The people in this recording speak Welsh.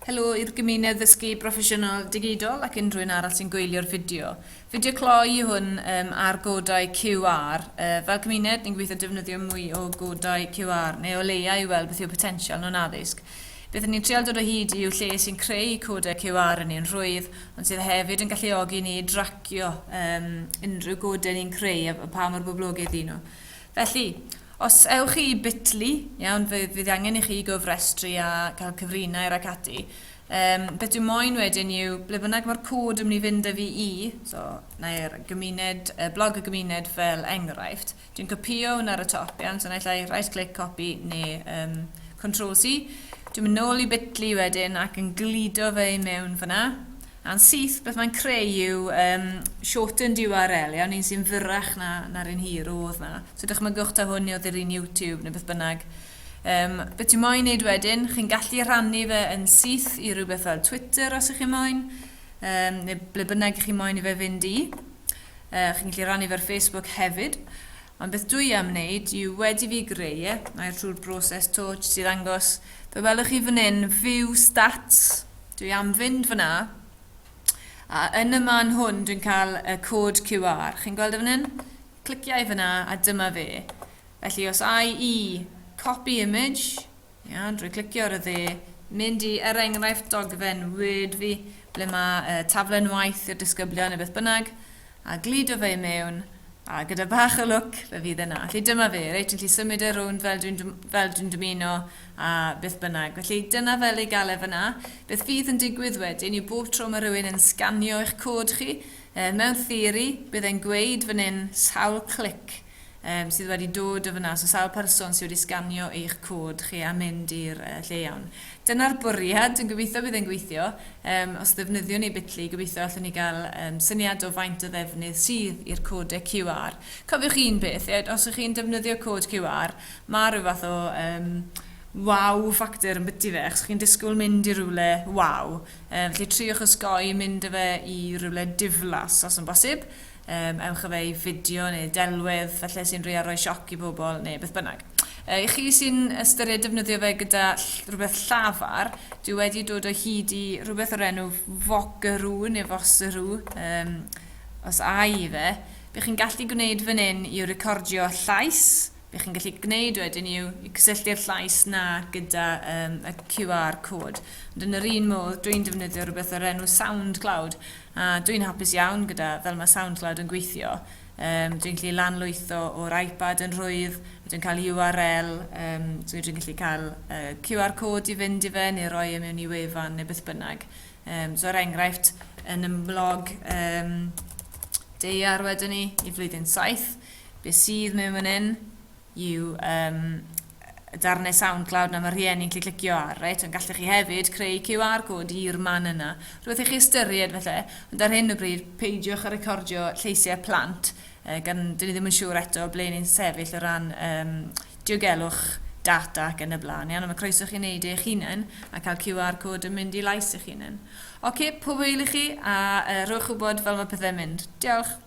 Helo i'r gymuned ddysgu broffesiynol digidol ac unrhyw un arall sy'n gwylio'r fideo. Fideo cloi i hwn um, ar godau QR. Uh, fel cymuned, ni'n gobeithio defnyddio mwy o godau QR, neu o leiau i weld beth yw potensial nhw'n addysg. Beth ni'n trial dod o hyd i'w lle sy'n creu codau QR yn ein rhwydd, ond sydd hefyd yn galluogi ni i dracio um, unrhyw godau ni'n creu a pa mor boblogaidd i nhw. Felly, os ewch chi i Bitly, iawn, fe fydd angen i chi gofrestru a cael cyfrinair ac ati. Um, beth dwi'n moyn wedyn yw, ble bynnag mae'r cod yn mynd i fynd â fi i, so, na'r gymuned, uh, blog y gymuned fel enghraifft, dwi'n copio hwn ar y top, iawn, so naill ai right click copy neu um, control C. Dwi'n mynd nôl i Bitly wedyn ac yn glido fe i mewn fyna. A'n syth beth mae'n creu yw um, shortened URL, iawn, un sy'n fyrrach na, na'r un hir oedd na. So dychmygwch ta hwn oedd yr un YouTube neu beth bynnag. Um, beth ti'n moyn wneud wedyn? Chi'n gallu rhannu fe yn syth i rhywbeth fel Twitter os ych chi'n moyn, um, neu ble bynnag ych chi'n moyn i fe fynd i. Uh, chi'n gallu rhannu fe ar Facebook hefyd. Ond beth dwi am wneud yw wedi fi greu e, mae'r trwy'r broses to, jyst i ddangos, fe welwch chi fan hyn, view stats, Dwi am fynd fyna, a yn y man hwn dwi'n cael y cod QR. Chi'n gweld e fan hyn? Cliciau fyna, a dyma fe. Felly os ai i copy image, ia, drwy clicio ar y dde, mynd i, er enghraifft, dogfen Word fi, ble mae uh, taflen waith i'r disgyblion neu beth bynnag, a gludo fe i mewn, a gyda bach o lwc, fe fydd yna. Felly dyma fe, reit, yn lli symud e rownd fel dwi'n, fel dwi'n dymuno, a beth bynnag. Felly, dyna fel ei gael e fan'na. Beth fydd yn digwydd wedyn yw bob tro mae rhywun yn sganio eich cod chi, yy, mewn theori, bydd e'n gweud fan hyn sawl clic um, sydd wedi dod o fan'na, so sawl person sydd wedi sganio eich cod chi a mynd i'r uh, lle iawn. Dyna'r bwriad, dwi'n gobeithio bydd e'n gweithio. Um, os ddefnyddiwn ni Bitly, gobeithio allwn ni gael um, syniad o faint o ddefnydd sydd i'r codau QR. Cofiwch un peth, os ych chi'n defnyddio cod QR, Mae rhyw fath o yym wow factor yn byty fe achos chi'n disgwyl mynd i rywle wow yym felly triwch osgoi mynd â fe i rywle diflas os yn bosib yym ewch â fe i fideo neu delwedd falle sy'n rhoi roi sioc i bobl neu beth bynnag. Yy, I chi sy'n ystyried defnyddio fe gyda ll- rhywbeth llafar, dwi wedi dod o hyd i rhywbeth o'r enw Vocaroo neu Voseroo um, os ai i fe, bych chi'n gallu gwneud fan hyn i recordio llais, Be chi'n gallu gwneud wedyn yw i cysylltu'r llais 'na gyda um, y QR cod. Ond yn yr un modd, dwi'n defnyddio rhywbeth o'r enw SoundCloud, a dwi'n hapus iawn gyda fel mae SoundCloud yn gweithio. Um, dwi'n gallu lanlwytho o'r iPad yn rhwydd, a dwi'n cael URL, um, so dwi'n gallu cael uh, QR cod i fynd i fe, neu roi e mewn i wefan neu beth bynnag. Um, so er enghraifft, yn ymwlog um, deiar wedyn ni i flwyddyn 7, Be sydd mewn fan hyn yw um, y darnau SoundCloud na mae rhieni'n gallu clicio ar, reit? Ond gallech chi hefyd creu QR code i'r man yna. Rwy'n chi ystyried felly, ond ar hyn o bryd, peidiwch a recordio lleisiau plant, uh, gan dyn ni ddim yn siŵr eto ble ni'n sefyll o ran um, diogelwch data ac yn y blaen. Iawn, mae croeso chi'n neud eich hunain a cael QR code yn mynd i lais eich hunain. Oce, okay, pob wyl i chi a uh, rhywch wybod fel mae pethau'n mynd. Diolch!